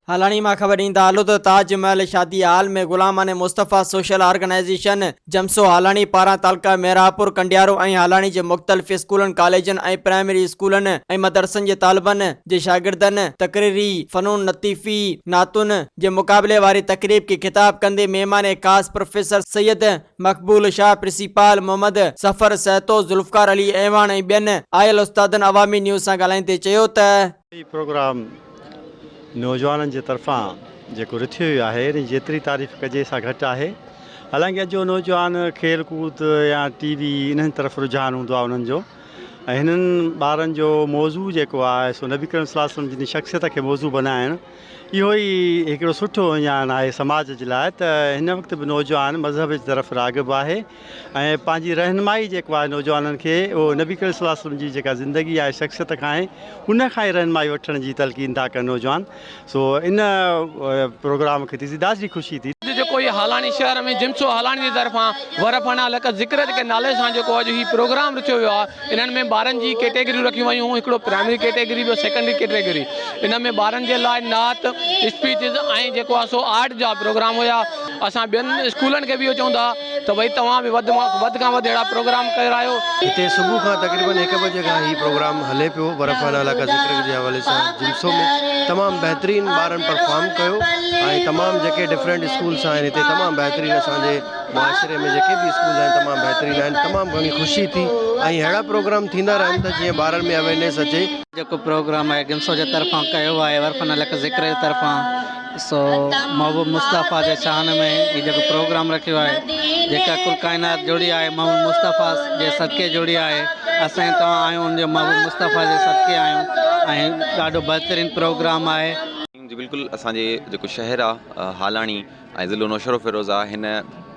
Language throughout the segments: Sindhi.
هالاڻي مان خبر ڏيندا هلو ته تاج محل شادي hall ۾ Ghulaman Mustafa social organization جمسو هالاڻي پاران تعلقه ميرهاپور ڪنڊيارو ۽ هالاڻي جي مختلف اسڪولن ڪاليجن ۽ پرائمري اسڪولن ۽ مدرسن جي طالبن جي شاگردن تقريري فنون لطيفي نعتن جي مقابلي واري تقريب کي خطاب ڪندي مهمان خاص پروفيسر سيد مقبول شاهه، پرنسيپال محمد سفر سهتو، ذوالفقار علي اعواڻ ۽ ٻين آيل استادن عوامي نيوز سان ڳالهائيندي چيو ته. هي پروگرام نوجوانن جي طرفان جيڪو رٿيو ويو آهي ان جي جيتري تعريف ڪجي سا گهٽ آهي حالانڪه اڄ جو نوجوان کيل ڪود يا ٽي وي انهن طرف رجحان هوندو آهي انهن جو ۽ هنن ٻارن جو موضوع جيڪو آهي سو نبي ڪريم صلي الله عليه وسلم جن جي شخصيت کي موضوع بنائڻ اهو ئي هڪڙو سٺو اهڃاڻ آهي سماج جي لاء ته هن وقت به نوجوان مذهب جي طرف راغب آهي ۽ پنهنجي رهنمائي جيڪو آهي نوجوانن کي اهو نبي ڪريم صلي الله عليه وسلم جي جيڪا زندگي آهي شخصيت کان آهي ان کان ئي رهنمائي وٺڻ جي تلقين ٿا ڪن نوجوان سو ان پروگرام کي ڏسي دادي خوشي ٿي اڄ جيڪو هي هالاڻي شهر ۾ جنسو هالاڻي جي طرفان ورپنا لڪ ذڪرت ڪي نالي سان جيڪو اڄ هي پروگرام رٿيو ويو آهي انهن ۾ ٻارن جي ڪيٽيگريون رکيون ويون هيون هڪڙو پرائمري ڪيٽيگري ٻيو سيڪنڊري ڪيٽيگري ان ۾ ٻارن جي لاء نعت اسپيچز ۽ جيڪو آهي سو آرٽ جا پروگرام هيا اسان ٻين اسڪولن کي به اهو چئون ٿا ته ڀئي توهان به وڌ مان وڌ کان وڌ اهڙا پروگرام ڪرايو. هتي صبح کان تقريبن هڪ بجي کان هي پروگرام هلي پيو برف والا علائقا ذڪر جي حوالي سان جمسو ۾ تمام بهترين ٻارن پرفارم ڪيو ۽ تمام جيڪي ڊفرنٽ اسڪولس آهن هتي تمام بهترين اسان جي معاشري ۾ جيڪي به اسڪول آهن تمام بهترين آهن تمام گهڻي خوشي ٿي ۽ اهڙا پروگرام ٿيندا رهن ته جيئن ٻارن ۾ اويرنيس اچي. جيڪو پروگرام آهي گنسو جي طرفان ڪيو آهي عرفان الحق ذڪر جي طرفان سو محبوب مصطفيٰ جي شان ۾ هي جيڪو پروگرام رکيو آهي جيڪا ڪل ڪائنات جڙي آهي محمد مصطفيٰ جي صدقي جڙي آهي اسان ۽ توهان آهيون ان جي محبوب مصطفيٰ جي صدقي آهيون ۽ ڏاڍو بهترين پروگرام آهي. جي بلڪل اسان جي جيڪو شهر آ هالاڻي. ۽ ضلعو نوشهرو فيروز آ هن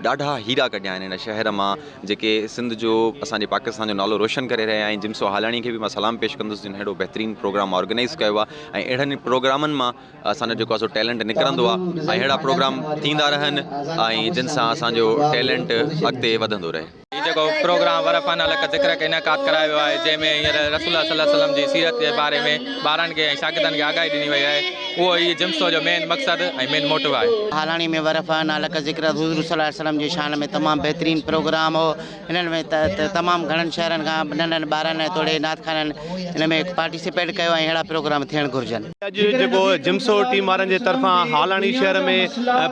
ڏاڍا هيرا ڪڍيا آهن هن شهر مان جيڪي سنڌ جو اسان جي پاڪستان جو نالو روشن ڪري رهيا آهن جمسو هالاڻي کي به مان سلام پيش ڪندس جن هيڏو بهترين پروگرام آرگنائز ڪيو آهي ۽ اهڙن پروگرامن مان اسان جو جيڪو اسو ٽيلنٽ نڪرندو آهي ۽ اهڙا پروگرام ٿيندا رهن ۽ جن سان اسان جو ٽيلنٽ اڳتي وڌندو رهي هي جيڪو پروگرام ورفا نالي هڪ ذڪر کي انعقاد ڪرايو ويو آهي جنهن ۾ هينئر رسول الله صلي الله عليه وسلم جي سيرت جي باري ۾ ٻارن کي ۽ شاگردن کي آگاهي ڏني وئي آهي اهو هي جم سو جو مين مقصد ۽ مين موٽو آهي. هالاڻي ۾ ورفا نالي هڪ ذڪر حضور صلي الله عليه وسلم جي شان ۾ تمام بهترين پروگرام هو هن ۾ تمام گهڻن شهرن کان ننڍن ٻارن ۽ توڙي نعت خوانن هن ۾ پارٽيسپيٽ ڪيو ۽ اهڙا پروگرام ٿيڻ گهرجن. اڄ جيڪو جمسو ٽيم وارن جي طرفان هالاڻي شهر ۾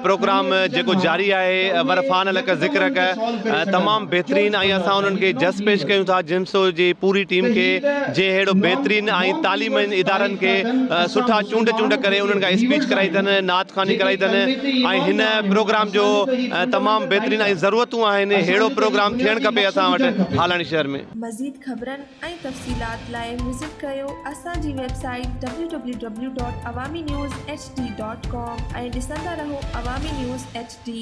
پروگرام جيڪو جاري آهي ورفان لڪ ذڪرڪ تمام بهترين ۽ اسان انهن کي جس پيش ڪيون ٿا جمسو جي پوري ٽيم کي جنهن ههڙو بهترين ۽ تعليمين ادارن کي سٺا چونڊ چونڊ ڪري انهن کان اسپيچ ڪرائي اٿن نعت خواني ڪرائي اٿن ۽ هن پروگرام جو تمام بهترين ۽ ضرورتون آهن ههڙو پروگرام ٿيڻ کپي اسان وٽ هالاڻي شهر ۾. مزيد خبرن ۽ تفصيلات لاء وزٽ ڪيو اسان جي website W W W dot Awami news H D dot com ۽ ڏسندا رهو عوامي نيوز ايڇ ڊي.